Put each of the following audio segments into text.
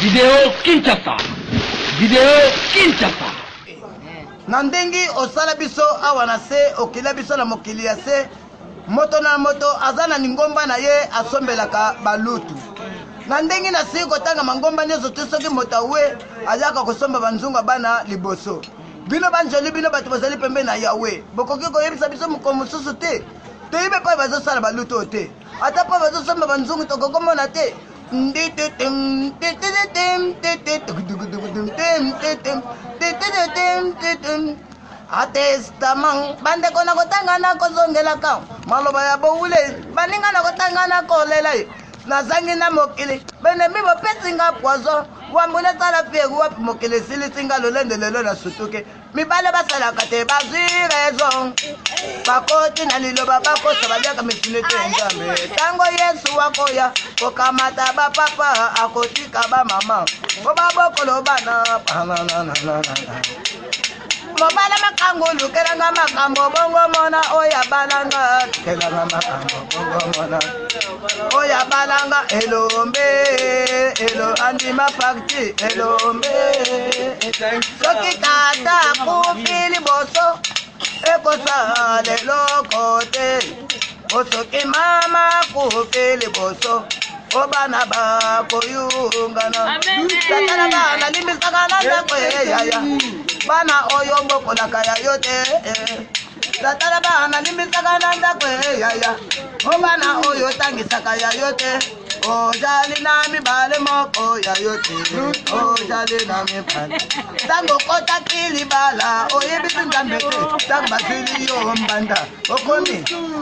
Video Kinshasa. Video Kinshasa. Na ndenge osala biso awa na se, okila biso na mokili ya se, moto na moto aza na lingomba na ye asombelaka balutu. Na ndenge nasili kotanga mangomba nyonso te, soki moto awe ayaka kosomba banzunga bana liboso. Bino banjoli, bino bato bozali pembe na Yawe, bokoki koyebisa biso mokolo mosusu te toyebe mpe bazosala balutu oyo te. ata mpo bazosomba banzungu tokokomona te atestament bandeko na kotanga na kozongelaka maloba ya bowule baninga na kotanga na kolela ye nazangi na mokili benemi bopesi nga poison wambo nasala fiere wapi mokili esilisi nga lolendo lelo na sutuke mibale basalaka te bazwi raison bakoti na liloba bakosa baliaka mituni te nzambe ntango yesu akoya kokamata bapapa akotika bamama mpo babokolo bana mobala makango lukelanga makambo bongo mona oyo abalanga lukelanga makambo bongo mona oya balanga elombe elo andima pakti elombe soki tata akufi liboso ekosala eloko te osoki mama akufi liboso o bana bakoyungana tatala bana limbisaka na ndako eyaya bana oyo bokolaka ya yo te eh. tata na bana limbisaka na ndako eyaya o bana oyo otangisaka ya yo te ojali na mibale moko ya yo te ojali na mibale ntango okotaki libala oyebisi nzambe te ntango basili yo mbanda okomi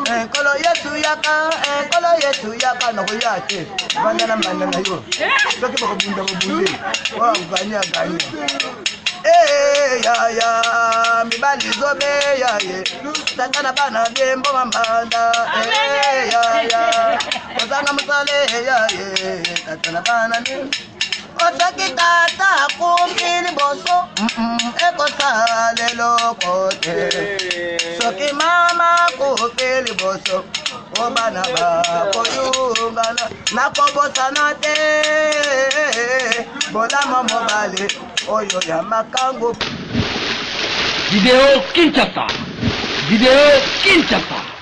eh, nkolo yesu yaka eh, nkolo yesu yaka nakoya te banda na mbanda na yo soki bakobunda bobundi oyo agani agani Hey, ya, ya, mibali zobe ya ye tata na bana bie mboma mbanda hey, ya, ya, ozanga mosale ya ye tata na bana bie otoki tata akumbi liboso ekosala eloko te soki mama akumbi liboso o bana bakoyungana nakobosana te bolama mobale oyo ya makango video kinshasa video kinshasa